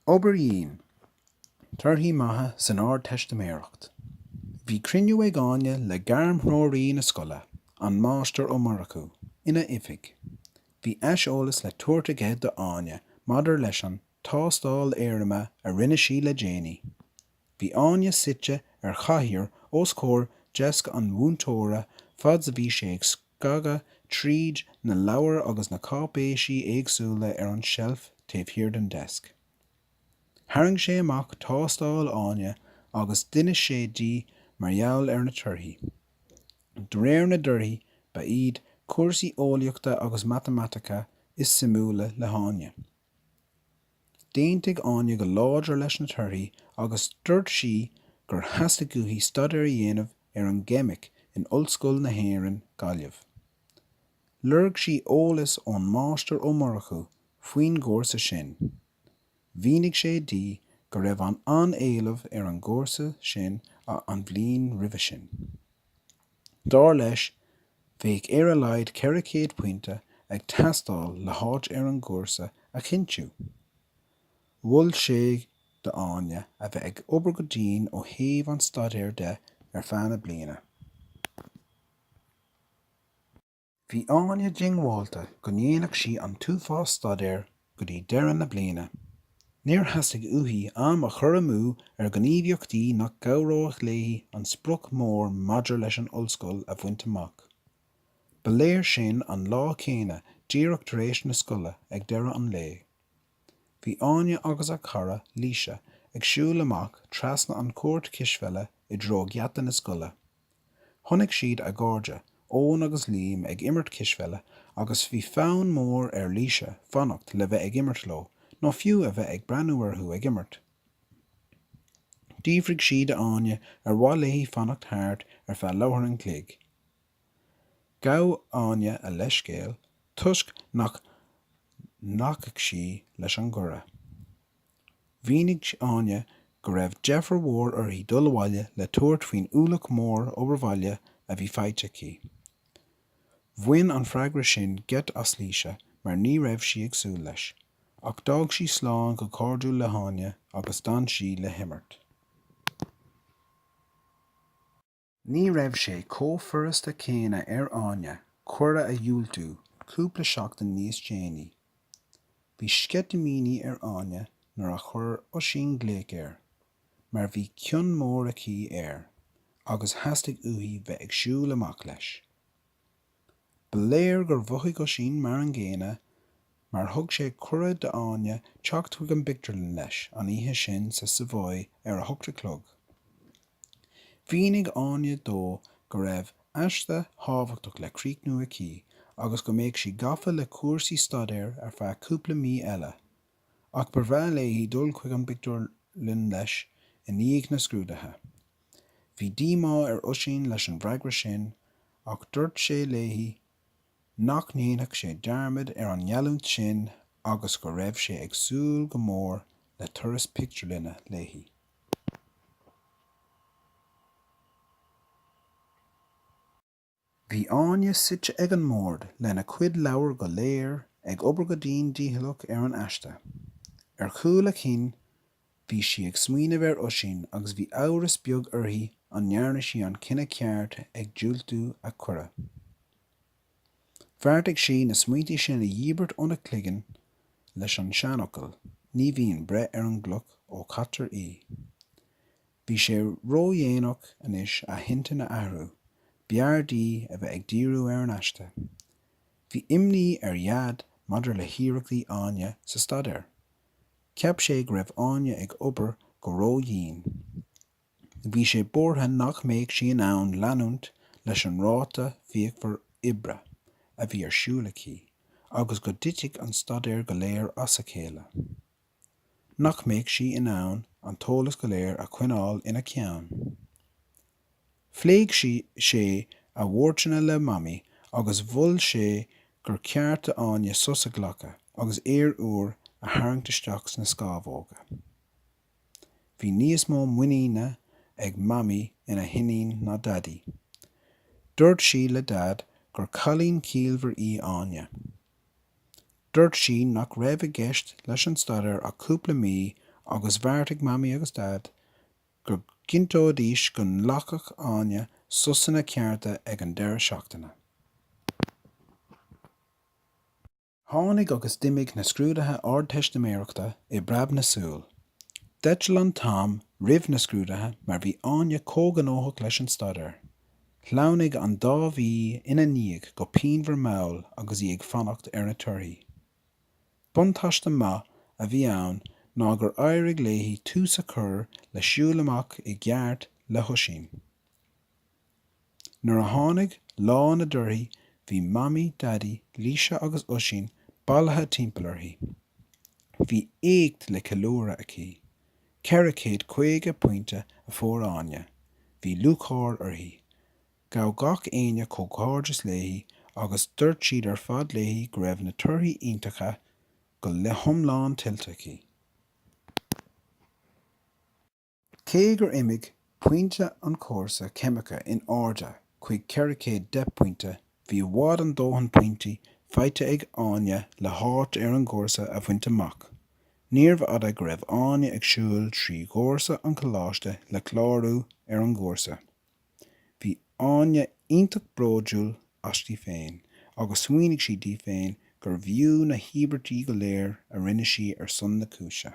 Obair dhian. Torthaí maithe san Ardteistiméireacht. Bhí cruinniú ag Áine le gairmthreoraí na scoile, an Máistir Ó Murchú, ina oifig. Bhí aiseolas le tabhairt aige do Áine maidir leis an tástáil éirime a rinne sí le déanaí. Bhí Áine suite ar chathaoir os comhair deasc an mhúinteora fad's a bhí sé ag scagadh tríd na leabhair agus na cáipéisí éagsúla ar an tseilf taobh thiar den deasc. Tharraing sé amach tástáil Áine agus d'inis sé di mar gheall ar na torthaí. De réir na dtorthaí ba iad cúrsaí eolaíochta agus matamaitice is suimiúla le hÁine. D'aontaigh Áine go láidir leis na torthaí agus dúirt sí gur theastaigh uaithi staidéar a dhéanamh ar an gCeimic in Ollscoil na hÉireann, Gaillimh. Lorg sí eolas ón Máistir Ó Murchú faoin gcúrsa sin. Mhínigh sé di go raibh an an-éileamh ar an gcúrsa sin an bhliain roimhe sin. Dar leis, bheadh ar a laghad 400 pointe ag teastáil le háit ar an gcúrsa a chinntiú. Mhol sé d'Áine a bheith ag obair go dian ó thaobh an staidéir de ar feadh na bliana. Bhí Áine diongbhálta go ndéanfadh sí an t-uafás staidéir go dtí deireadh na bliana. Níor theastaigh uaithi am a chur amú ar ghníomhaíochtaí nach gcabhróidh léi an sprioc mór maidir leis an Ollscoil a bhaint amach. Ba léir sin an lá céanna díreach tar éis na scoile ag deireadh an lae. Bhí Áine agus a cara, Laoise, ag siúl amach trasna an chúirt chispheile i dtreo gheata na scoile. Chonaic siad a gcairde, Eoin agus Liam ag imirt cispheile agus bhí fonn mór ar Laoise fanacht le bheith ag imirt leo nó fiú a bheith ag breathnú orthu ag imirt. D'fhiafraigh sí de Áine ar mhaith léi fanacht thart ar feadh leathuair an chloig. Ghabh Áine a leithscéal toisc nach nglacfadh sí leis an gcuireadh. Mhínigh Áine go raibh deifir mhór uirthi dul abhaile le tabhairt faoin ualach mór obair bhaile a bhí faighte aici. Bhain an freagra sin geit as Laoise mar ní raibh sí ag súil leis, ach d'fhág sí slán go cairdiúil le hÁine agus d'fhan sí le himirt. Ní raibh sé chomh furasta céanna ar Áine cuireadh a dhiúltú cúpla seachtain níos déanaí. Bhí sceitimíní ar Áine nuair a chuir Oisín glaoch air, mar bhí cion mór aici air, agus theastaigh uaithi bheith ag siúl amach leis. Ba léir gur mhothaigh Oisín mar an gcéanna mar thug sé cuireadh d'Áine teacht chuig an bpictiúrlann leis an oíche sin sa Savoy ar a hocht a chlog. Mhínigh Áine dó go raibh aiste thábhachtach le críochnú aici agus go mbeadh sí gafa le cúrsaí staidéir ar feadh cúpla mí eile, ach ba bhreá léi dul chuig an bpictiúrlann leis i ndiaidh na scrúduithe. Bhí díomá ar Oisín leis an bhfreagra sin Ach dúirt sé léi nach ndéanfadh sé dearmad ar an ngealltúint sin agus go raibh sé ag súil go mór le turas pictiúrlainne léi. Bhí Áine suite ag an mbord lena cuid leabhar go léir ag obair go dian dícheallach ar an aiste. Ar chúl a cinn Bhí sí ag smaoineamh ar Oisín agus bhí amhras beag uirthi an ndearna sí an cinneadh ceart ag diúltú a chuireadh. Bheartaigh sí na smaointe sin a dhíbirt óna cloigeann leis an seanfhocal Ní bhíonn breith ar an gcloch ó caitear í. Bhí sé ródhéanach anois a hintinn a athrú, b'fhearr di a bheith ag díriú ar an aiste. Bhí imní ar Dhaid maidir le hiarrachtaí Áine sa staidéar. Cheap sé go raibh Áine ag obair go ródhian. Bhí sé buartha nach mbeadh sí in ann leanúint leis an ráta fíochmhar oibre a bhí ar siúl aici agus go dtitfeadh an staidéar go léir as a chéile. Nach mbeadh sí in ann an t-eolas go léir a choinneáil ina ceann. Phléigh sé a bhuarthaí le Mamaí agus mhol sé gur ceart do Áine sos a ghlacadh agus aer úr a tharraingt isteach sna scámhóga. Bhí níos mó muiníne ag Mamaí ina hiníon ná Daidí. Dúirt sí le Daid gur cailín ciallmhar í Áine. Dúirt sí nach raibh i gceist leis an staidéar ach cúpla mí agus bheartaigh Mamaí agus Daid go gcinnteoidís go nglacfadh Áine sosanna cearta ag an deireadh seachtaine. Tháinig agus d'imigh na scrúduithe Ardteistiméireachta i bpreab na súl. D'eitil an t-am roimh na scrúduithe mar bhí Áine chomh gnóthach leis an staidéar. Shleamhnaigh an dá mhí ina ndiaidh go pianmhar mall agus í ag fanacht ar na torthaí. Buntáiste maith a bhí ann ná gur éirigh léi tús a chur le siúl amach i gceart le hOisín. Nuair a tháinig lá na dtorthaí bhí Mamaí, Daidí, Laoise agus Oisín bailithe timpeall uirthi. Bhí éacht le ceiliúradh aici. Ceithre chéad caoga pointe a fuair Áine. Bhí lúcháir uirthi. Ghabh gach éinne comhghairdeas léi agus dúirt siad ar fad léi go raibh na torthaí iontacha go hiomlán tuillte aici. Cé gur imigh pointí an chúrsa ceimice in airde chuig 410 pointe, bhí breis agus a dóthain pointí faighte ag Áine le háit ar an gcúrsa a bhaint amach. Níorbh fhada go raibh Áine ag siúl trí dhoirse an choláiste le clárú ar an gcúrsa. Bhí Áine iontach bródúil asti féin agus smaoinigh sí di féin gurbh fhiú na híobairtí go léir a rinne sí ar son na cúise.